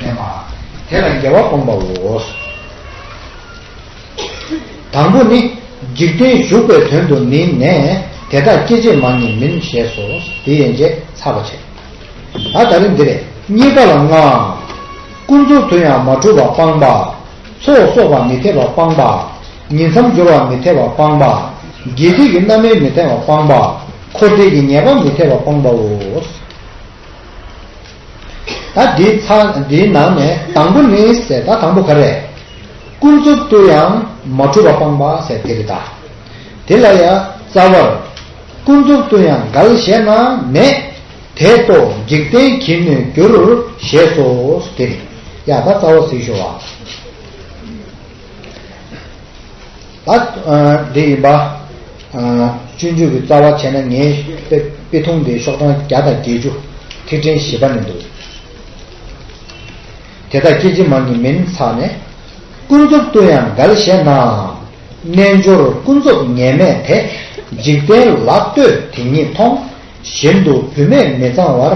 བསྟན་པ། དེ་ལ་རྒྱལ་བ་སྒོམ་པའོ། དང་པོ་ནི། འཇིག་རྟེན་གཞུག་པའི་དོན་དུ་ནི་ནས། དེ་དག་སྐྱེ་བྱེད་མ་ནི་མིན་ཞེས་སོ། དེ་ཡན་ཆད་ཚར་བར་བྱས། ད་ད་རེ་འདི་རེ། གཉིས་ཀ་ལ་ལྔ། ཀུན་རྫོབ་དུ་ཡང་མ་གྲུབ་པ་སྤངས་པ། ཚོགས་གསོག་པ་མི་འཐད་པ་སྤངས་པ། ཉིད་མཚམས་སྦྱོར་བ་མི་འཐད་པ་སྤངས་པ། དགེ་སྡིག་གི་རྣམ་སྨིན་མི་འཐད་པ་སྤངས་པ། འཁོར་འདས་ཀྱི་ངེས་པ་མི་འཐད་པ་སྤངས་པའོ། ད་འདི་ཚང་འདིའི་ནང་ནས་དང་པོ་ནི་ཟེར་ད་དང་པོ་ག་རེད། ཀུན་རྫོབ་ཏུ་ཡང་མ་གྲུབ་པ་སྤངས་པ་ཟེར་དེ་རེད་ད། དེ་ལ་ཡ་རྩ་བར། ཀུན་རྫོབ་ཏུ་ཡང་འགལ་བཞེད་ན་མེད། དེ་རྟོག་འཇིག་རྟེན་གྱིས་ནི་འགྱུར། ཞེས་སོ། དེ་རེད་ཡ་ད་རྩ་བ་གཟིགས་ཤོག་ཨ། ཨ། དེ་ཡིན་པ། སྤྱོད་འཇུག་གི་རྩ་བ་བྱས་ན་ངའི་དཔེ་ཐུང་དེའི་ཤོག་གྲངས་བརྒྱ་དང་བརྒྱད་ཅུ། ཐིག་ཕྲེང་བཞི་པ་ནས་འདུག། དེ་དག་སྐྱེ་འཆི་མང་གི་མིན་ཚར་ནས། ཀུན་རྫོབ་ཏུ་ཡང་འགལ་བཤད་ནའང། རྣལ་འབྱོར་ཀུན་རྫོབ་ངེས་མེད་དེ། འཇིག་རྟེན་ལ་ལྟོས་དེ་ཉིད་མཐོང། བཞིན་དུ་བུད་མེད་མི་གཙང་བར།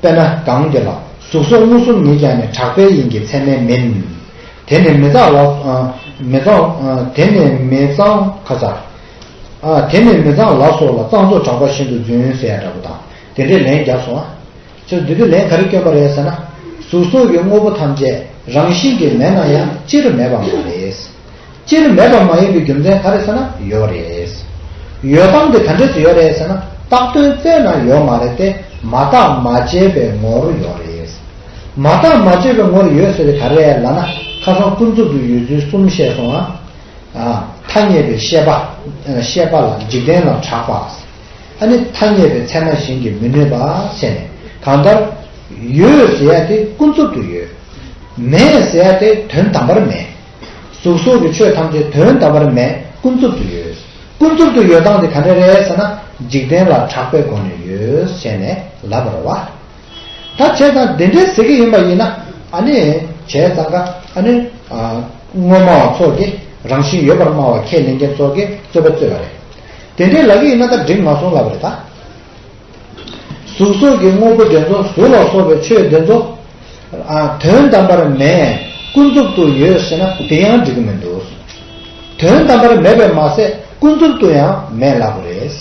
དཔེར་ན་གངས་དེ་ལ་གཟུགས་སོགས་མངོན་སུམ་མེད་ཀྱང་ནི་གྲགས་པའི་དབྱིངས་ཀྱི་མཚན་མའི་མིན། དེ་ནི་མི་གཙང་ལགས། མི་གཙང། དེ་ནི་མི་གཙང། ཁ་ཚ། དེ་ནི་མི་གཙང་ལགས་སོགས་ལ་གཙང་བཙོག་གྲགས་པ་བཞིན་དུ་རྫུན་བཤད་ཡ་འདྲ་པོ་དང་དེ་འདྲའི་ལན་རྒྱབ་སོང་ཨ། ཁྱོད་འདི་དུས་ལན་ག་རེ་བསྐྱོན་པ་རེད་ཟེར་ན། གཟུགས་སོགས་ཀྱི་དངོས་པོ་ཐམས་ཅད་རང་བཞིན་གྱིས་མེད་ན་ཡང་སྤྱིར་མེད་པ་མ་རེད། སྤྱིར་མེད་པ་མ་ཡིན་པའི་རྒྱུ་མཚན་ག་རེ་ཟེར་ན་ཡོད་རེད། ཡོད་སྟངས་ཀྱི་དོན་འབྲས་སུ་ཡོད་རེད་ཟེར་ན་རྟགས་དོན་རྩད་ན་ཡོད་མ་རེད་དེ་མ་བརྟགས་མ་དཔྱད་པའི་ངོ་རུ་ཡོད་རེད། མ་བརྟགས་མ་དཔྱད་པའི་ངོ་རུ་ཡོད་ཟེར་བའི་ག་རེ་ལ་ན་ཁ་སང་ཀུན་རྫོབ་ཏུ་ཡོད་ཚུལ་གསུམ་བཤད་སོང་ང། ཐ་སྙད་པའི་ཤེས་པ། ཤེས་པ་ལ་འཇིག་རྟེན་ལ་གྲགས་པ། ཨ་ནི་ཐ་སྙད་པའི་ཚད་མ་གཞན་གྱིས་མི་གནོད་པ་བཤད་ནས་གང་ལྟར། ཡོད་ཟེར་ཡ་དེ་ཀུན་རྫོབ་ཏུ་ཡོད། མེད་ཟེར་ཡ་དེ་དོན་དམ་པར་མེད། གཟུགས་སོགས་ཀྱི་ཆོས་ཐམས་ཅད་དོན་དམ་པར་མེད་ཀུན་རྫོབ་ཏུ་ཡོད། ཀུན་རྫོབ་ཏུ་ཡོད་སྟངས་དེ་ག་འདྲ་རེད་ཟེར་ན། འཇིག་རྟེན་ལ་གྲགས་པའི་སྒོ་ནས་ཡོད་ཟེར་ནས་ལབ་པར་རོ། ད་བྱས་ཙང་དེ་འདྲའི་ཟེར་གྱི་ཡིན་པ་ཡིན་ན། ཨ་ནི། བྱས་ཙང་ཀ་ཨ་ནི། དངོས་སྨྲ་བ་ཚོགས་ཀྱིས་རང་བཞིན་ཡོད་པར་སྨྲ་བ་ཁས་ལེན་མཁན་ཚོགས་ཀྱིས་རྩོད་པ་རྩོད་པ་རེད། དེ་འདྲའི་ལག་གི་ཡིན་ན་ད་འགྲིག་མ་སོང་ལབ་པ་རེད་ད། གཟུགས་སོགས་ཀྱི་དངོས་པོ་འདྲེན་ཚོགས་གཟུགས་ལ་སོགས་པའི་ཆོས་འདྲེན་ཚོགས། དོན་དམ་པར་མེད་ཀུན་རྫོབ་ཏུ་ཡོད་ཤེས་ན་དེ་ཡང་འགྲིག་གི་མི་འདུག། དོན་དམ་པར་མེད་པས་མ་ཟད་ཀུན་རྫོབ་ཏུ་ཡང་མེད་ལབ་པ་རེད།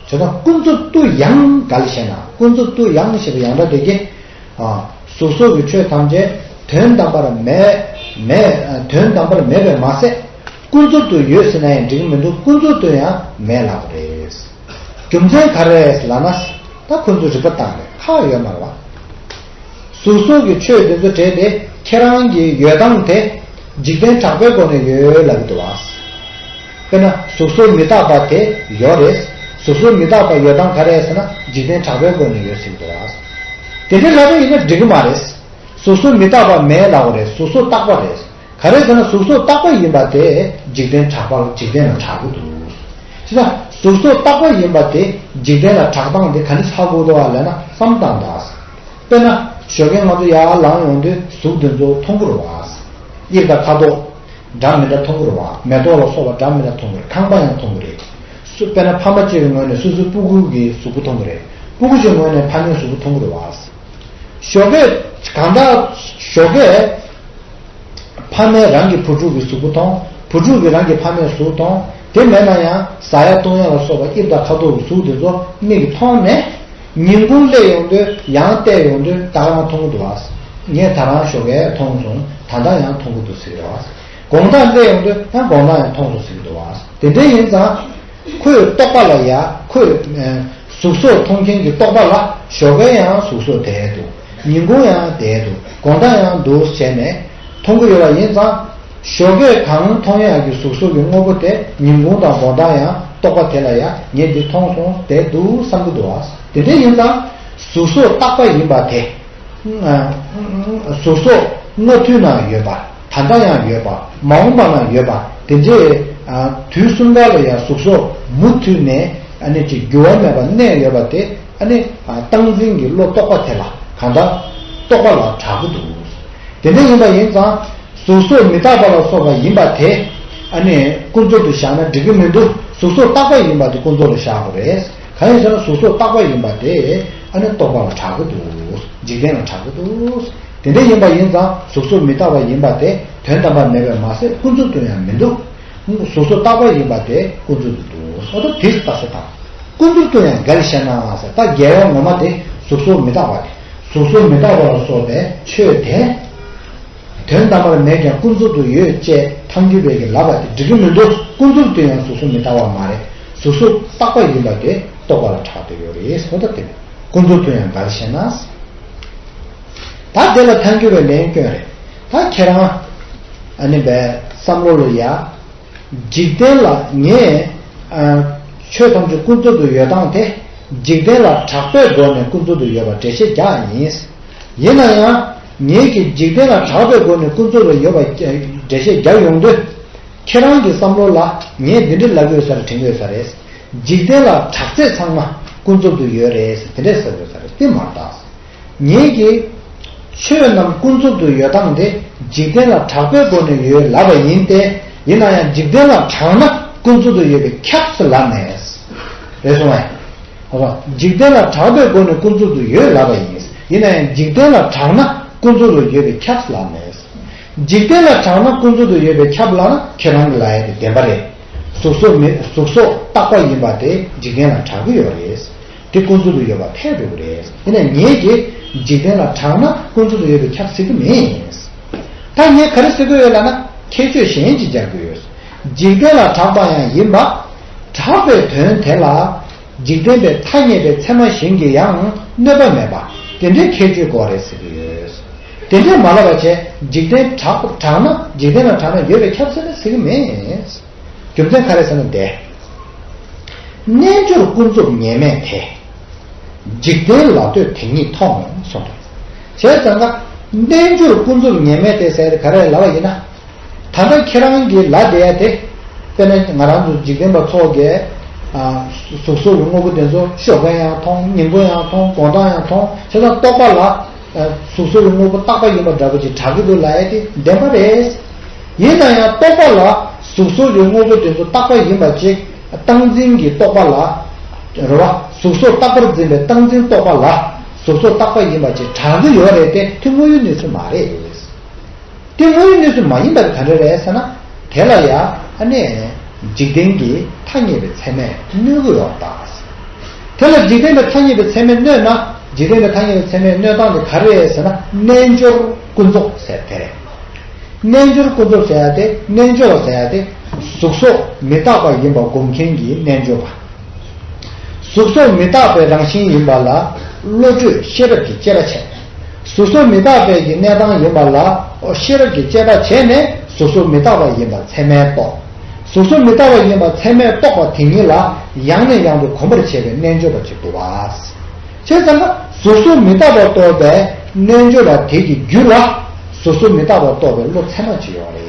དེ་དང་ཀུན་རྫོབ་ཏུ་ཡང་ག་ལ་ཞེ་ན་ཀུན་རྫོབ་ཏུ་ཡང་ཞེས་པ་ཡང་འདྲ་སྟེ། གཟུགས་སོགས་ཀྱི་ཆོས་ཐམས་ཅད་དོན་དམ་པར་མེད། དོན་དམ་པར་མེད་པས་མ་ཟད་ཀུན་རྫོབ་ཏུ་ཡོད་ཟེར་ན་ཡང་འགྲིག་གི་མི་འདུག་ཀུན་རྫོབ་ཏུ་ཡང་མེད་ལབ་པ་རེད། རྒྱུ་མཚན་ག་རེད་ལ་ན། ད་ཁོ་ཚོའི་རིག་པ་བཏང་ནས་ཁ་ཡོད་མར་བ། ཟུར་ཟུར་གྱི་ཆོས་འདི་ཚོ་བྲིས་ཏེ་ཁྱེད་རང་གི་ཡོད་སྟངས་དེ། འཇིག་རྟེན་དྲག་པོའི་སྒོ་ནས་ཡོད་ལབ་ཀྱི་འདུག་བ། དཔེར་ན་ཟུར་ཟུར་མི་རྟག་པ་དེ་ཡོད་རེད། ཟུར་ཟུར་མི་རྟག་པ་ཡོད་སྟངས་ག་རེད་ཟེར་ན་འཇིག་རྟེན་དྲག་པོའི་སྒོ་ནས་ཡོད་ཟེར་གྱི་འདུག་བ། དེ་འདྲའི་ལྷ་འདྲེ་ཡིན་ན་འགྲིག་གི་མ་རེད། ཟུར་ཟུར་མི་རྟག་པ་མེད་ལབ་བ་རེད་ཟུར་ཟུར་རྟག་པ་རེད། ག་རེ་ཟེར་ན་གཟུགས་སོགས་རྟག་པ་ཡིན་པ་དེ་འཇིག་རྟེན་གྲགས་པ་ལ་འཇིག་རྟེན་ལ་གྲགས་གི་འདུག་ཅེ་ན། གཟུགས་སོགས་རྟག་པ་ཡིན་པ་དེ་འཇིག་རྟེན་ལ་གྲགས་སྟངས་དེ་ག་ནི་ལྷག་གོ་ལྟོ་བ་ལས་ན་བསམ་སྟངས་དང། དཔེར་ན། ཞོ་ཁན་ང་ཚོ་ཡར་ལངས་ཡོང་དུས་གཟུགས་དེ་ཚོ་མཐོང་གི་རུང་བ། དབྱིབས་དང་ཁ་དོག། འདྲ་མི་འདྲ་མཐོང་གི་རུང་བ་མེ་ཏོག་ལ་སོགས་པ་འདྲ་མི་འདྲ་མཐོང་གི་རེད་ཁང་པ་ཡང་མཐོང་གི་རེད། དཔེར་ན་ཕ་མ་གཅིག་གི་ངོས་ནས་སོ་སོའི་སྤུ་གུ་གི་གཟུགས་པོ་མཐོང་གི་རེད་སྤུ་གུ་གཅིག་ངོས་ནས་ཕ་མའི་གཟུགས་པོ་མཐོང་གི་རུང་བ། ཞོགས་པའི། གང་དག། ཞོགས་པའི། ཕ་མས་རང་གི་བུ་ཕྲུག་གི་གཟུགས་པོ་མཐོང། བུ་ཕྲུག་གིས་རང་གི་ཕ་མའི་གཟུགས་མཐོང། དེ་མེད་ན་ཡང་ཟ་ཡ་བཏུང་ཡ་ལ་སོགས་པ་དབྱིབས་དང་ཁ་དོག་གི་གཟུགས་དེ་ཚོ་མིག་གིས་མཐོང་ནས། ཉིན་གུང་སླེ་ཡོང་དུས་ཡང་བལྟས་ཡོང་དུས་ད་རང་མཐོང་གི་འདུག་ཨ། ངས་ད་རང་ཞོགས་པའི་མཐོང་སོང་ད་ལྟ་ཡང་མཐོང་གི་འདུག་ཟེར་གི་འདུག་ཨ། དགོང་དག་སླེ་ཡོང་དུས་ཡང་དགོང་དག་ཡང་མཐོང་སོང་ཟེར་གི་འདུག་ཨ། དེ་འདྲའི་ཡིན་ཙང། ཁོས་རྟོགས་པ་ལ་ཡ། ཁོས། གཟུགས་སོགས་མཐོང་མཁན་གྱི་རྟོགས་པ་ལ་ཞོགས་པའི་ཡང་གཟུགས་སོགས་དད་དོ། ཉིན་གུང་ཡང་དད་དོ། དགོང་དག་ཡང་འདུ་བྱས་ནས། མཐོང་གི་ཡོད་པ་ཡིན་ཙང། ཞོགས་པས་གང་མཐོང་ཡང་གྱི་གཟུགས་སོགས་ཀྱི་དངོས་པོ་དེ་ཉིན་གུང་དང་དགོང་དག་ཡང་རྟོགས་པ་དེ་ལ་ཡ། ངས་འདི་མཐོང་སོང་དད་འདུག་བསམ་གྱི་འདུག་བ། དེ་འདྲས་ཡིན་ཙང། གཟུགས་སོགས་རྟག་པ་ཡིན་པ་དེ། གཟུགས་སོགས་སྔ་དུས་ན་ཡོད་པ། ད་ལྟ་ཡང་ཡོད་པ་མ་འོངས་པ་ནང་ཡོད་པ་དེ་འདྲས། དུས་གསུམ་ག་ལ་ཡང་གཟུགས་སོགས་མུ་མཐུད་ནས་ནས་ཀྱི་འགྱུར་བ་མེད་པར་གནས་ཡོད་པ་དེ་ནི་སྟངས་འཛིན་གྱི་བློ་རྟོག་པ་དེ་ལ་གང་འདྲ་རྟོག་པ་ལ་གྲག་གི་འདུག་དེ་འདྲ་ཡིན་པ་ཡིན་ཙང་གཟུགས་སོགས་མི་རྟག་པ་ལ་སོགས་པ་ཡིན་པ་དེ་ནི་ཀུན་རྫོབ་ཏུ་བཞག་ན་འགྲིག་གི་མི་འདུག་གཟུགས་སོགས་རྟག་པ་ཡིན་པ་དེ་ཀུན་རྫོབ་ལ་བཞག་དགོས་རེད། གང་ཡིན་ཟེར་ན་གཟུགས་སོགས་རྟག་པ་ཡིན་པ་དེ་ཨ་ནི་རྟོགས་པ་ལ་གྲག་གི་འདུག་འཇིག་རྟེན་ལ་གྲག་གི་འདུག་དེ་འདྲ་ཡིན་པ་ཡིན་ཙང་གཟུགས་སོགས་མི་རྟག་པ་ཡིན་པ་དེ་དོན་དམ་པར་མེད་པས་མ་ཟད་ཀུན་རྫོབ་ཏུ་ཡང་མི་འདུག་གཟུགས་སོགས་རྟག་པ་ཡིན་པ་དེ་ཀུན་རྫོབ་ཏུ་འདུག་ཨ་ཏོ་དེས་རྟགས་སུ་དང། ཀུན་རྫོབ་ཏུ་ཡང་འགའ་རེ་བཤད་ནའང་ཟེར་རྟགས་འགལ་བའི་ངོ་མ་དེ་གཟུགས་སོགས་མི་རྟག་པ་དེ། གཟུགས་སོགས་མི་རྟག་པ་ལ་སོགས་པའི་ཆོས་དེ། དོན་དམ་པར་མེད་ཀྱང་ཀུན་རྫོབ་ཏུ་ཡོད་ཅེས་མཐའ་འགྱུར་བས་ཀྱི་ལབ་པ་དེ་འགྲིག་གི་མི་འདུག་ཀུན་རྫོབ་ཏུ་ཡང་གཟུགས་གཟུགས་མི་དག་བ་མ་རེད་གཟུགས་གཟུགས་བཏགས་པ་ཡིན་པ་དེ་རྟོགས་པ་ལ་གྲགས་འདོད་ཡོད་རེད་སོ་ད་དེ་ཀུན་རྫོབ་ཏུ་ཡང་འདར་ཤེས་ན། ད་དེ་ལ་མཐའ་འགྱུར་བའི་ལན་སྐྱོན་རེད་ད་ཁྱེད་རང་ཨ་ནི་བའི་བསམ་བློ་ལ་ཡ། འཇིག་རྟེན་ལ་ངས་ཆོས་ཐམས་ཅད་ཀུན་རྫོབ་ཏུ་ཡོད་སྟངས་དེ་འཇིག་རྟེན་ལ་གྲགས་པས་སྒོ་ནས་ཀུན་རྫོབ་ཏུ་ཡོད་པར་འགྲེལ་བཤད་རྒྱག་ཡིན། ཡིན་ན་ཡང། ངེད་ཀྱིས་འཇིག་རྟེན་ལ་གྲགས་པའི་སྒོ་ནས་ཀུན་རྫོབ་ལ་ཡོད་པ་འགྲེལ་བཤད་རྒྱག་ཡོང་དུས། ཁྱེད་རང་གི་བསམ་བློ་ལ་ངས་འདི་འདྲི་ལབ་ཡོད་ས་རེད་དྲན་ཡོད་ས་རེད། འཇིག་རྟེན་ལ་གྲགས་ཚད་ཚང་མ་ཀུན་རྫོབ་ཏུ་ཡོད་རེད་དེ་འདྲས་ཟེར་དགོས་ས་རེད་དེ་མ་གཏགས། ངེད་ཀྱིས། ཆོས་རྣམས་ཀུན་རྫོབ་ཏུ་ཡོད་སྟངས་དེ་འཇིག་རྟེན་ལ་གྲགས་པའི་སྒོ་ནས་ཡོད་ལབ་པ་ཡིན་ཏེ། ཡིན་ན་ཡང་འཇིག་རྟེན་ལ་གྲགས་ན་ཀུན་རྫོབ་ཏུ་ཡོད་པའི་ཁྱབ་ཚུལ་ལབ་ནས། རེད་སོང་བས། བ། འཇིག་རྟེན་ལ་གྲགས་པའི་སྒོ་ནས་ཀུན་རྫོབ་ཏུ་ཡོད་ལབ་པ་ཡིན། ཡིན་ན་ཡང་འཇིག་རྟེན་ལ་གྲགས་ན་ཀུན་རྫོབ་ལ་ཡོད་པའི་ཁྱབ་ལ་མེད། འཇིག་རྟེན་ལ་གྲགས་ན་ཀུན་རྫོབ་ཏུ་ཡོད་པའི་ཁྱབ་ལ་ན་ཁྱེད་རང་གི་ལ་ཡ་དེ་བདེན་པ་རེད། གཟུགས་སོགས་མེད་གཟུགས་སོགས་རྟག་པ་ཡིན་པ་དེ་འཇིག་རྟེན་ལ་གྲགས་ཀྱི་ཡོད་རེད། དེ་ཀུན་རྫོབ་ཏུ་ཡོད་པ་ཕལ་འགྲོ་གི་རེད། ཡིན་ན་ངེད་ཀྱིས་འཇིག་རྟེན་ལ་གྲགས་ན་ཀུན་རྫོབ་ཏུ་ཡོད་པའི་ཁྱབ་ཟེར་གྱི་མེད། ད་ངས་ག་རེ་ཟེར་དགོས་ཡོད་ལ་ན་ཁྱད་ཆོས་གཞན་ཅིག་སྦྱར་དགོས་ཡོད། འཇིག་རྟེན་ལ་གྲགས་པ་ཡང་ཡིན་པ། གྲགས་པའི་དོན་དེ་ལ། འཇིག་རྟེན་པའི་ཐ་སྙད་པའི་ཚད་མ་གཞན་གྱིས་ཡང་གནོད་པ་མེད་པ། དེ་འདྲའི་ཁྱད་ཆོས་གོ་རེ་ཟེར་གྱི་ཡོད། དེ་འདྲས་མ་ལབ་པ་བྱས་འཇིག་རྟེན་གྲགས་ན་འཇིག་རྟེན་ལ་གྲགས་ན་ཡོད་པའི་ཁྱབ་ཟེར་ན་ཟེར་གྱི་མེད། རྒྱུ་མཚན་ག་རེ་ཟེར་ན་བདེ། རྣལ་འབྱོར་ཀུན་རྫོབ་ངེས་མེད་དེ། འཇིག་རྟེན་ལ་ལྟོས་དེ་ཉིད་མཐོང་གསུངས་པ། བྱས་ཙང་ཀ། རྣལ་འབྱོར་ཀུན་རྫོབ་ངེས་མེད་དེ་ཟེར་ག་རེ་ལབ་པ་ཡིན་ན། ཐ་ན་ཁྱེད་རང་གི་ལ་དེ་ཡ་དེ། དཔེར་ན་ང་རང་ཚོ་འཇིག་རྟེན་པ་ཚོ་གས། གཟུགས་སོགས་ཀྱི་དངོས་པོ་དེ་ཚོ་ཤོ་གས་ཡང་མཐོང་སྙིང་པོ་ཡང་མཐོང་གོང་ཐང་ཡང་མཐོང་ཁྱེད་རང་རྟོགས་པ་ལ། གཟུགས་སོགས་ཀྱི་དངོས་པོ་རྟག་པ་ཡིན་པ་འདྲ་པོ་ཅིག་གྲགས་ཀྱི་འདུག་ལ་ཡ་དེ་བདེན་པ་རེད། ཡིན་ན་ཡང་རྟོགས་པ་ལ་གཟུགས་སོགས་ཀྱི་དངོས་པོ་དེ་ཚོ་རྟག་པ་ཡིན་པ་ཅིག་སྟངས་འཛིན་གྱིས་རྟོགས་པ་ལ། རེ་བ། གཟུགས་སོགས་རྟག་པར་འཛིན་པའི་སྟངས་འཛིན་རྟོགས་པ་ལ། གཟུགས་སོགས་རྟག་པ་ཡིན་པ་ཅིག་གྲགས་ཀྱི་ཡོད་རེད་དེ་དེ་དངོས་ཡོད་གནས་ཚུལ་མ་རེད། དེ་དངོས་ཡོད་གནས་ཚུལ་མ་ཡིན་པ་དེ་ག་འདྲ་རེད་ཟེར་ན། དེ་ལ་ཡ་ཨ་ནས། འཇིག་རྟེན་གྱི་ཐ་སྙད་པའི་ཚད་མས་གནོད་དགོས་བ་པ། དེ་ལ་འཇིག་རྟེན་པའི་ཐ་སྙད་པའི་ཚད་མས་གནོད་ན། འཇིག་རྟེན་པའི་ཐ་སྙད་པའི་ཚད་མས་གནོད་སྟངས་དེ་ག་རེད་ཟེར་ན་རྣལ་འབྱོར་ཀུན་རྫོབ་ཟེར་དེ་རེད། རྣལ་འབྱོར་ཀུན་རྫོབ་ཟེར་ཡ་དེ་རྣལ་འབྱོར་བ་ཟེར་ཡ་དེ། གཟུགས་སོགས་མི་རྟག་པ་ཡིན་པ་སྒོམ་མཁན་གྱི་རྣལ་འབྱོར་པ། གཟུགས་སོགས་མི་རྟག་པའི་རང་བཞིན་ཡིན་པ་ལ་བློ་གྲོས་ཤེས་རབ་ཀྱི་དཔྱད་པ་བྱས། ཟུར་ཟུར་མི་རྟག་པའི་ཀྱི་གནས་སྟངས་ཡིན་པ་ལ་ཨོ་ཤེས་རབ་ཀྱི་དཔྱད་པ་བྱས་ནས་ཟུར་ཟུར་མི་རྟག་པ་ཡིན་པ་ཚད་མས་རྟོགས། ཟུར་ཟུར་མི་རྟག་པ་ཡིན་པ་ཚད་མས་རྟོགས་པ་དེ་ཉིད་ལ་ཡང་ནས་ཡང་དུ་གོམས་པར་བྱེད་པའི་རྣལ་འབྱོར་པ་གཅིག་ཏུ་བསས་བྱས་ཙམ་ན་ཟུར་ཟུར་མི་རྟག་པ་རྟོགས་པའི་རྣལ་འབྱོར་པ་དེ་ཀྱི་རྒྱུད་ལ་ཟུར་ཟུར་མི་རྟག་པ་རྟོགས་པའི་བློ་ཚད་མ་གཅིག་ཡོང་བ་རེད།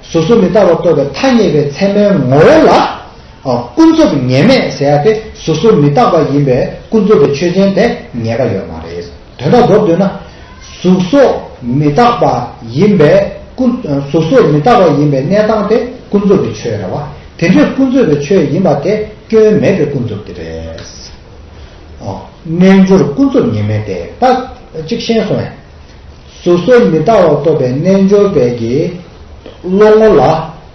སོ་སོ་མི་རྟག་པར་རྟོགས་པའི་ཐ་སྙད་པའི་ཚད་མའི་ངོ་བོ་ལ། ཀུན་རྫོབ་ངེས་མེད་ཟེར་ཡ་དེ་སོ་སོ་མི་རྟག་པ་ཡིན་པའི་ཀུན་རྫོབ་པའི་ཆོས་ཅན་དེ་ངེས་པ་ཡོད་མ་རེད། དོན་དག་རྫོགས་འདོད་ན། གཟུགས་སོ་མི་རྟག་པ་ཡིན་པའི་ཀུན། གཟུགས་སོ་མི་རྟག་པ་ཡིན་པའི་གནས་སྟངས་དེ་ཀུན་རྫོབ་པའི་ཆོས་རེད་བ། དེ་འདྲའི་ཀུན་རྫོབ་པའི་ཆོས་ཡིན་པ་དེ་སྐྱོན་མེད་པའི་ཀུན་རྫོབ་དེ་རེད། རྣལ་འབྱོར་ཀུན་རྫོབ་ངེས་མེད་དེ་ད་ཅིག་ཤེས་སོང་ཡ། གཟུགས་སུ་མི་རྟག་བ་རྟོགས་པའི་རྣལ་འབྱོར་པས་ཀྱི། བློ་ངོ་ལ།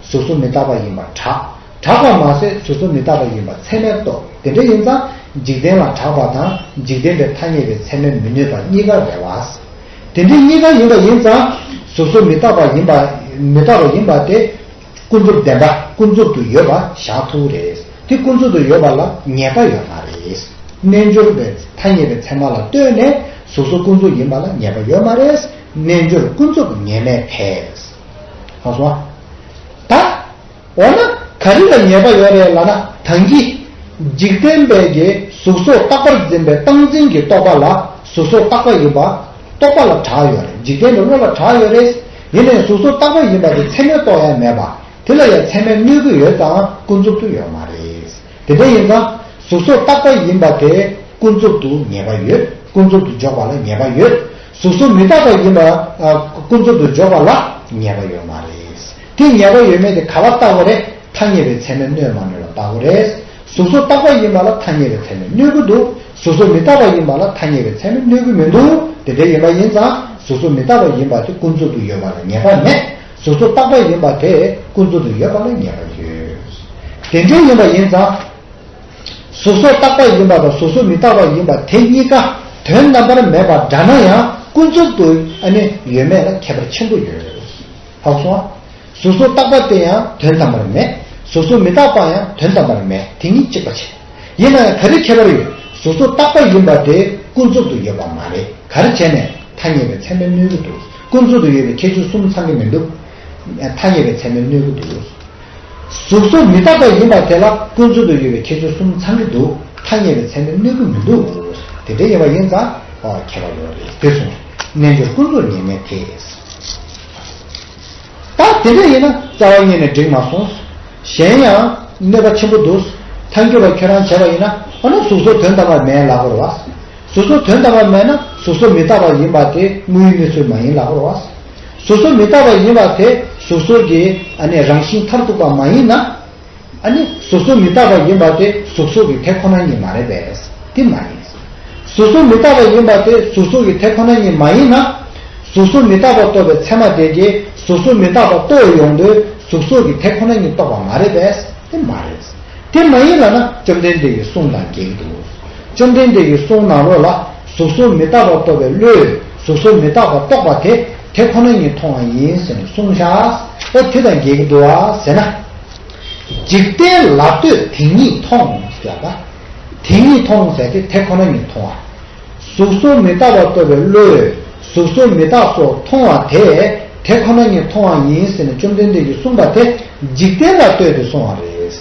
གཟུགས་སུ་མི་རྟག་པ་ཡིན་པར་གྲགས། གྲགས་པར་མ་ཟད་གཟུགས་སུ་མི་རྟག་པ་ཡིན་པར་ཚད་མས་རྟོགས་དེ་འདྲ་ཡིན་ཙང་འཇིག་རྟེན་ལ་གྲགས་པ་དང་འཇིག་རྟེན་པའི་ཐ་སྙད་པའི་ཚད་མས་མི་གནོད་པ་གཉིས་ཀ་རེད་བ། དེ་འདྲའི་གཉིས་ཀ་ཡིན་པ་ཡིན་ཙང་གཟུགས་སུ་མི་རྟག་པ་ཡིན་པ་མི་རྟག་པ་ཡིན་པ་དེ། ཀུན་རྫོབ་བདེན་པ་ཀུན་རྫོབ་ཏུ་ཡོད་པ་བཞག་ཐུག་རེད། དེ་ཀུན་རྫོབ་ཏུ་ཡོད་པ་ལ་ངེས་པ་ཡོད་མ་རེད། རྣལ་འབྱོར་པའི་ཐ་སྙད་པའི་ཚད་མ་ལ་ལྟོས་ནས་གཟུགས་སོགས་ཀུན་རྫོབ་ཡིན་པ་ལ་ངེས་པ་ཡོད་མ་རེད། རྣལ་འབྱོར་ཀུན་རྫོབ་ངེས་མེད་དེས། གང་སོང་ཨ། ད། འོ་ན་ག་རེ་ལ་ངེས་པ་ཡོད་རེད་ལ་ན་དང་གི། འཇིག་རྟེན་པའི་གིས་གཟུགས་སོགས་རྟག་པར་འཛིན་པའི་སྟངས་འཛིན་གྱི་རྟོག་པ་ལ་གཟུགས་སོགས་རྟག་པ་ཡིན་པ། རྟོག་པ་ལ་གྲགས་ཡོད་རེད་འཇིག་རྟེན་པའི་བློ་ལ་གྲགས་ཡོད་རེད། དེ་ནས་གཟུགས་སོགས་རྟག་པ་ཡིན་པ་དེ་མཚན་མའི་རྟོག་ཡང་མེད་པ། དེ་ལ་ཡང་མཚན་མའི་གནོད་ཀྱི་ཡོད་ཙང་ཀུན་རྫོབ་ཏུ་ཡོད་མ་རེད། དེ་འདྲ་ཡིན་ཙང། གཟུགས་སོགས་རྟག་པ་ཡིན་པ་དེ་ཀུན་རྫོབ་ཏུ་ངེས་པ་ཡོད། ཀུན་རྫོབ་ཏུ་འཇོག་པ་ལ་ངེས་པ་ཡོད། གཟུགས་སོགས་མི་རྟག་པ་ཡིན་པ། ཀུན་རྫོབ་ཏུ་འཇོག་པ་ལ་ངེས་པ་ཡོད་མ་རེད། དེ་ངེས་པ་ཡོད་མེད་དེ་ག་བ་ལྟ་བུ་རེད། ཐ་སྙད་པའི་མཚན་མའི་གནོད་མ་གནོད་ལ་ལྟ་བུ་རེད། གཟུགས་སོགས་རྟག་པ་ཡིན་པ་ལ་ཐ་སྙད་པའི་མཚན་མའི་གནོད་ཀྱི་འདུག་གཟུགས་སུ་མི་རྟག་པ་ཡིན་པ་ལ་ཐ་སྙད་པའི་ཚད་མས་གནོད་ཀྱི་མི་འདུག་དེ་འདྲ་ཡིན་པ་ཡིན་ཙང་གཟུགས་སུ་མི་རྟག་པ་ཡིན་པ་དེ་ཀུན་རྫོབ་ཏུ་ཡོད་པ་ལ་ཉེས་པ་མེད་གཟུགས་སུ་རྟག་པ་ཡིན་པ་དེ་ཀུན་རྫོབ་ཏུ་ཡོད་པ་ལ་ཉེས་པ་ཡོད། དེ་འདྲ་ཡིན་པ་ཡིན་ཙང། གཟུགས་སུ་རྟག་པ་ཡིན་པ་དང་གཟུགས་སུ་མི་རྟག་པ་ཡིན་པ་དེ་གཉིས་ཀ་དོན་རྣམ་པར་མེད་པར་འདྲ་ན་ཡང་ཀུན་རྫོབ་ཏུ་ནི་ཡོད་མེད་ལ་ཁྱད་པར་ཆེན་པོ་ཡོད། ཧཱུྃ་སོ། གཟུགས་སུ་བཏགས་པ་དེ་ཡང་དོན་དམ་པར་མེད། གཟུགས་སུ་མི་བཏགས་པ་ཡང་དོན་དམ་པར་མེད་དེ་གཉིས་གཅིག་པ་བྱེད། ཡིན་ན་ཡང་ག་རེ་ཁྱད་པར་ཡོད་གཟུགས་སུ་བཏགས་པ་ཡིན་པ་དེ་ཀུན་རྫོབ་ཏུ་ཡོད་པ་མ་རེད་ག་རེ་བྱས་ནས་ཐ་སྙད་པའི་ཚད་མའི་སྣོད་གི་འདུག་ཀུན་རྫོབ་ཏུ་ཡོད་པའི་ཁྱད་ཆོས་གསུམ་ཚང་གི་མི་འདུག་ཐ་སྙད་པའི་ཚད་མའི་སྣོད་གི་འདུག་གཟུགས་སུ་མི་བཏགས་པ་ཡིན་པ་དེ་ལ་ཀུན་རྫོབ་ཏུ་ཡོད་པའི་ཁྱད་ཆོས་གསུམ་ཚང་གི་འདུག་ཐ་སྙད་པའི་ཚད་མའི་སྣོད་གི་མི་འདུག་དེ་འདྲ་ཡིན་པ་ཡིན་ཙང་ཁྱད་པར་ཡོད་རེད་དེ་གསུངས་རྣལ་འབྱོར་ཀུན་རྫོབ་ངེས་མེད་དེ། ད་དེ་འདྲ་ཡིན་ན་རྩ་བ་གཉིས་ནས་འགྲིག་མ་སོང། གཞན་ཡང། གནོད་པ་ཆེན་པོ་འདུག། མཐའ་འགྱུར་བ་ཁྱོད་རང་བྱས་པ་ཡིན་ན་འོ་ན་གཟུགས་སོགས་དོན་དམ་པར་མེད་ལགས་པར་བ། གཟུགས་སོགས་དོན་དམ་པར་མེད་ན་གཟུགས་སོགས་མི་རྟག་པ་ཡིན་པ་དེ་དངོས་ཡུལ་གནས་ཚུལ་མ་ཡིན་ལགས་པར་བ། གཟུགས་སོགས་མི་རྟག་པ་ཡིན་པ་དེ་གཟུགས་སོགས་ཀྱི། ཨ་ནི་རང་བཞིན་མཐར་ཐུག་པ་མ་ཡིན་ན། ཨ་ནི་གཟུགས་གཟུགས་མི་རྟག་པ་ཡིན་པ་དེ་གཟུགས་གཟུགས་ཀྱི་དེ་ཁོ་ན་ཉིད་མ་རེད་པས་དེ་མ་ཡིན། གཟུགས་གཟུགས་མི་རྟག་པ་ཡིན་པ་དེ་གཟུགས་གཟུགས་ཀྱི་དེ་ཁོ་ན་ཉིད་མ་ཡིན་ན། གཟུགས་གཟུགས་མི་རྟག་པ་རྟོགས་པའི་ཚད་མ་དེ་དེ་གཟུགས་གཟུགས་མི་རྟག་པ་རྟོགས་ཡོང་དུས་གཟུགས་གཟུགས་ཀྱི་དེ་ཁོ་ན་ཉིད་རྟོགས་པ་མ་རེད་པས་དེ་མ་རེད། དེ་མ་ཡིན་ལ་ན་བཅོམ་ལྡན་འདས་ཀྱི་གསུང་དང་འགལ་འདུག་བཅོམ་ལྡན་འདས་ཀྱི་གསུང་ནང་རོ་ལ་གཟུགས་གཟུགས་མི་རྟག་པ་རྟོགས་པའི་བློས་གཟུགས་གཟུགས་མི་རྟག་པ་རྟོགས་པ་དེ་དེ་ཁོ་ན་ཉིད་མཐོང་བ་ཡིན་ཟེར་ནས་གསུང་བཞག་ཨ་དེ་དང་འགལ་གྱི་འདུག་བ་ཟེར་ན། འཇིག་རྟེན་ལ་ལྟོས་དེ་ཉིད་མཐོང་ཟེར་བ། དེ་ཉིད་མཐོང་ཟེར་ཏེ་དེ་ཁོ་ན་ཉིད་མཐོང་བ། གཟུགས་སོགས་མི་རྟག་པ་རྟོགས་པའི་བློས་གཟུགས་སོགས་མི་རྟག་སོགས་མཐོང་བ་དེ་དེ་ཁོ་ན་ཉིད་མཐོང་བ་ཡིན་ཟེར་ནས་བཅོམ་ལྡན་འདས་ཀྱིས་གསུངས་པ་དེ་འཇིག་རྟེན་ལ་ལྟོས་ཏེ་སོང་བ་རེད།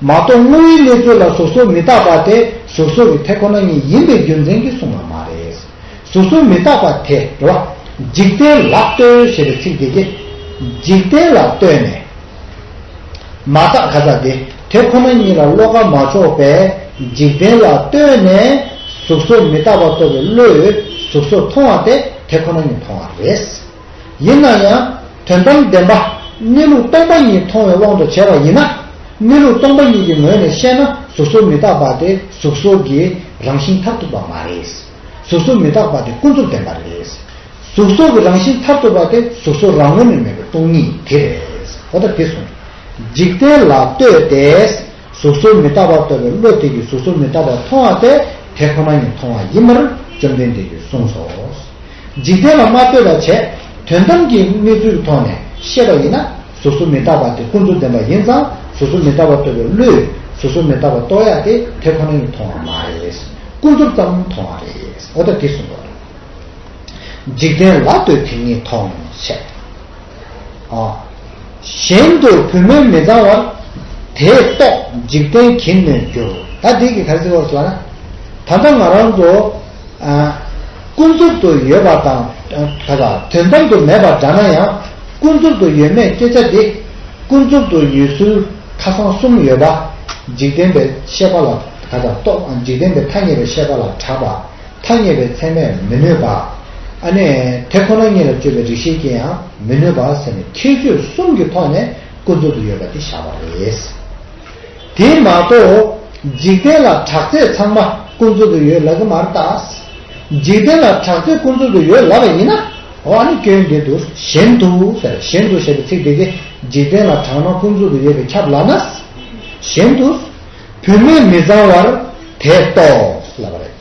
མ་གཏོགས་དངོས་ཡོད་གནས་ཚུལ་ལ་གཟུགས་སོགས་མི་རྟག་པ་དེ་གཟུགས་སོགས་ཀྱི་དེ་ཁོ་ན་ཉིད་ཡིན་པའི་རྒྱུ་མཚན་གྱིས་གསུངས་པ་མ་རེད། གཟུགས་གཟུགས་མི་རྟག་པ་དེ་འགྲོ་བ། འཇིག་རྟེན་ལ་ལྟོས་ཞེས་པའི་ཚིག་འདི་ཀྱིས། འཇིག་རྟེན་ལ་ལྟོས་ནས། མ་བརྟགས་ག་ས་འདི་དེ་ཁོ་ན་ཉིད་ལ་བློ་ཁ་མ་ཕྱོགས་པས་འཇིག་རྟེན་ལ་ལྟོས་ནས་གཟུགས་གཟུགས་མི་རྟག་པ་རྟོགས་པའི་བློས་གཟུགས་གཟུགས་མཐོང་བ་དེ་དེ་ཁོ་ན་ཉིད་མཐོང་བ་རེད། ཡིན་ན་ཡང་དོན་དམ་བདེན་པ་གནས་ལུགས་སྟོང་པ་ཉིད་མཐོང་བའི་དབང་དུ་བྱས་པ་ཡིན་ན། གནས་ལུགས་སྟོང་པ་ཉིད་ཀྱི་ངོས་ནས་བཤད་ན་གཟུགས་སོགས་མི་རྟག་པ་དེ་གཟུགས་སོགས་ཀྱི་རང་བཞིན་མཐར་ཐུག་པ་མ་རེད། གཟུགས་སོགས་མི་རྟག་པ་དེ་ཀུན་རྫོབ་བདེན་པ་རེད། གཟུགས་སོགས་ཀྱི་རང་བཞིན་མཐར་ཐུག་པ་དེ་གཟུགས་སོགས་རང་ངོས་ནས་མེད་པའི་སྟོང་ཉིད་དེ་རེད། གོ་བརྡ་འདི་སོང། འཇིག་རྟེན་ལ་ལྟོས་ཏེ། གཟུགས་སོགས་མི་རྟག་པར་ལྟོས་པའི་བློ་དེ་ཀྱིས་གཟུགས་སོགས་མི་རྟག་པར་མཐོང་བ་དེ་དེ་ཁོ་ན་ཉིད་མཐོང་བ་ཡིན་པར་བཅོམ་ལྡན་འདས་ཀྱིས་གསུངས་སོ། འཇིག་རྟེན་ལ་མ་ལྟོས་པར་བྱས། དོན་དམ་གྱི་གནས་ཚུལ་ཐོག་ནས་བཤད་པ་ཡིན་ན་ཟུར་ཟུར་མི་རྟག་པ་དེ་ཀུན་རྫོབ་བདེན་པ་ཡིན་ཙང་ཟུར་ཟུར་མི་རྟག་པ་ལྟོས་པའི་བློས་ཟུར་ཟུར་མི་རྟག་པ་རྟོགས་ཡག་སྟེ་དེ་ཁོ་ན་ཡིན་མཐོང་བ་མ་རེད། ཀུན་རྫོབ་ཙམ་མཐོང་བ་རེད། འོ་ད་འདི་གསུངས་པ། འཇིག་རྟེན་ལ་ལྟོས་དེ་ཉིད་ཐོག་ནས་བཤད། གཞན་དུ་བུད་མེད་མི་གཙང་བར། དེས་རྟོགས་འཇིག་རྟེན་གྱིས་ནོན་འགྱུར། ད་འདི་གི་ག་རེ་ཚིག་བར་སོང་བ་ན། ད་ལྟ་ང་རང་ཚོ། ཀུན་རྫོབ་ཏུ་ཡོད་པ་དང། དོན་དམ་དུ་མེད་པར་འདྲ་ན་ཡང། ཀུན་རྫོབ་ཏུ་ཡོད་མེད་སྐྱེ་བྱ་འདི། ཀུན་རྫོབ་ཏུ་ཡོད་ཚུལ་ཁ་སང་གསུམ་ཡོད་པ། འཇིག་རྟེན་པའི་ཤེས་པ་ལ་འཇིག་རྟེན་པའི་ཐ་སྙད་པའི་ཤེས་པ་ལ་གྲགས་པ། ཐ་སྙད་པའི་ཚད་མས་མི་གནོད་པ། དེ་ཁོ་ན་ཉིད་ལ་དཔྱོད་པའི་རིག་ཤེས་ཀྱིས་ཡང་མི་གནོད་པ་ཟེར་ནས་ཁྱད་ཆོས་གསུམ་གྱི་ཐོག་ནས་ཀུན་རྫོབ་ཏུ་ཡོད་པ་འདི་བཞག་པ་རེད། དེ་མ་གཏོགས། འཇིག་རྟེན་ལ་དྲག་རྩལ་ཚང་མ་ཀུན་རྫོབ་ཏུ་ཡོད་ལབ་གི་མ་རེད་ད། འཇིག་རྟེན་ལ་དྲག་རྩལ་ཀུན་རྫོབ་ཏུ་ཡོད་ལབ་པ་ཡིན་ན། འོ་ཨ་ནི་སྐྱོན་འདི་འདུག་བཞིན་དུ་ཟེར་བཞིན་དུ་ཞེས་པའི་ཚིག་དེ་གས་འཇིག་རྟེན་ལ་དྲག་སྣང་ཀུན་རྫོབ་ཏུ་ཡོད་པའི་ཁྱབ་ལབ་ན། བཞིན་དུ། བུད་མེད་མི་བཟང་བར་དེས་རྟོགས་ལབ་པ་རེད།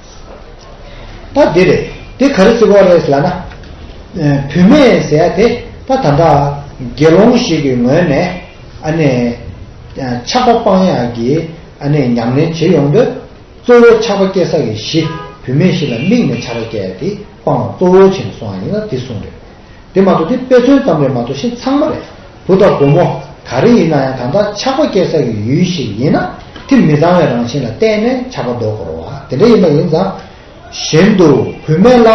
ད་འདི་རེད། དེ་ག་རེ་བརྩི་དགོངས་རེད་ཟེར་ན། བུད་མེད་ཟེར་ཡ་དེ་ད་ད་འདྲ། དགེ་སློང་ཞིག་གི་ངོས་ནས། ཨ་ནེ། ཆགས་པ་སྤང་ཡག་གི་ཨ་ནེ་ཉམས་ལེན་བྱེད་ཡོང་འདོད། གཙོ་བོ་ཆགས་པ་སྐྱེ་ས་ཡི་གཞི་བུད་མེད་ཞིག་ལ་དམིགས་ནས་ཆགས་པ་སྐྱེ་ཡ་དེ་སྤང་བ་གཙོ་བོ་བྱེད་ནས་སོང་བ་ཡིན་ན་དེ་གསུངས་རེད། དེ་མ་གཏོགས་དེ་དཔེ་མཚོན་ཙམ་ལས་མ་གཏོགས་གཞི་ཚང་མ་རེད། བུ་དང་བུ་མོ་ག་རེ་ཡིན་ན་ཡང་དམ་དག་ཆགས་པ་སྐྱེ་ས་ཡི་ཡུལ་ཞིག་ཡིན་ན་དེ་མི་ཚང་བའི་རང་བཞིན་ལ་བརྟེན་ནས་ཆགས་པ་འདོགས་དགོས་རོ། དེ་འདྲ་ཡིན་པ་ཡིན་ཙང། གཞན་དུ་བུད་མེད་ལ་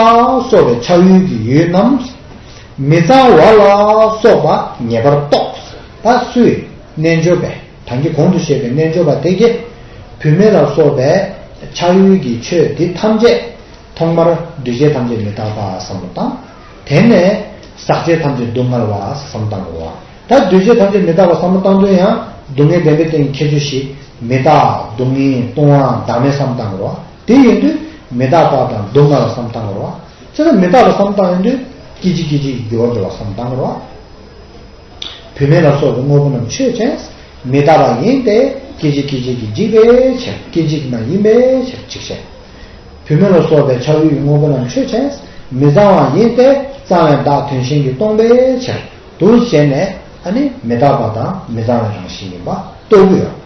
སོགས་པའི་ཆགས་ཡུལ་གྱི་ཡུལ་རྣམས། མི་ཚང་བ་ལ་སོགས་པ་ངེས་པར་རྟོགས། པ་སུའི་རྣལ་འབྱོར་པས་དང་གི་གོང་དུ་བཤད་པའི་རྣལ་འབྱོར་པ་དེ་གས། བུད་མེད་ལ་སོགས་པའི་ཆགས་ཡུལ་གྱི་ཆོས་འདི་ཐམས་ཅད། ཐོག་མར་འདུས་བྱས་ཐམས་ཅད་མི་རྟག་པ་བསམ་བློ་བཏང། དེ་ནས་ཟག་བཅས་ཐམས་ཅད་སྡུག་བསྔལ་བ་བསམ་གཏང་ངོ། ད་འདུས་བྱས་ཐམས་ཅད་མི་རྟག་པ་བསམ་མ་གཏང་དོན་ཡང་སྡུག་བསྔལ་བདེན་པའི་སྟེང་ཁྱད་ཆོས་ཞིག་མི་རྟག་སྡུག་བསྔལ་ལྟུང་བའང་བདག་མེད་བསམ་གཏང་ངོ། དེ་ཡིན་དུས་མི་རྟག་པ་དང་སྡུག་བསྔལ་བ་བསམ་གཏང་ངོ། ཅི་ལ་མི་རྟག་པ་བསམ་གཏང་ཡིན་དུས་སྐྱེ་འཆི་སྐྱེ་འཆིའི་རྒྱུ་བ་འགྲོ་བ་བསམ་གཏང་ངོ། བུད་མེད་ལ་སོགས་པའི་དངོས་པོ་རྣམས་ཆོས་ཅན། མི་རྟག་པ་ཡིན་ཏེ་སྐྱེ་འཆི་སྐྱེ་འཆི་གི་འཇིག་པའི་ཕྱིར་སྐྱེ་འཇིག་མ་ཡིན་པའི་ཕྱིར་འཇིག་བྱེད། བུད་མེད་ལ་སོགས་པའི་ཆགས་ཡུལ་གྱི་དངོས་པོ་རྣམས་ཆོས་ཅན། མི་གཙང་བ་ཡིན་ཏེ་གཙང་བའི་བདག་དོན་གཞན་གྱིས་སྟོང་པའི་ཕྱིར། འདུ་བྱེད་ནི། ཨ་ནི་མི་རྟག་པ་དང་མི་གཙང་བའི་རང་བཞིན་ཡིན་པ་རྟོགས་རྒྱུ་ཡོད།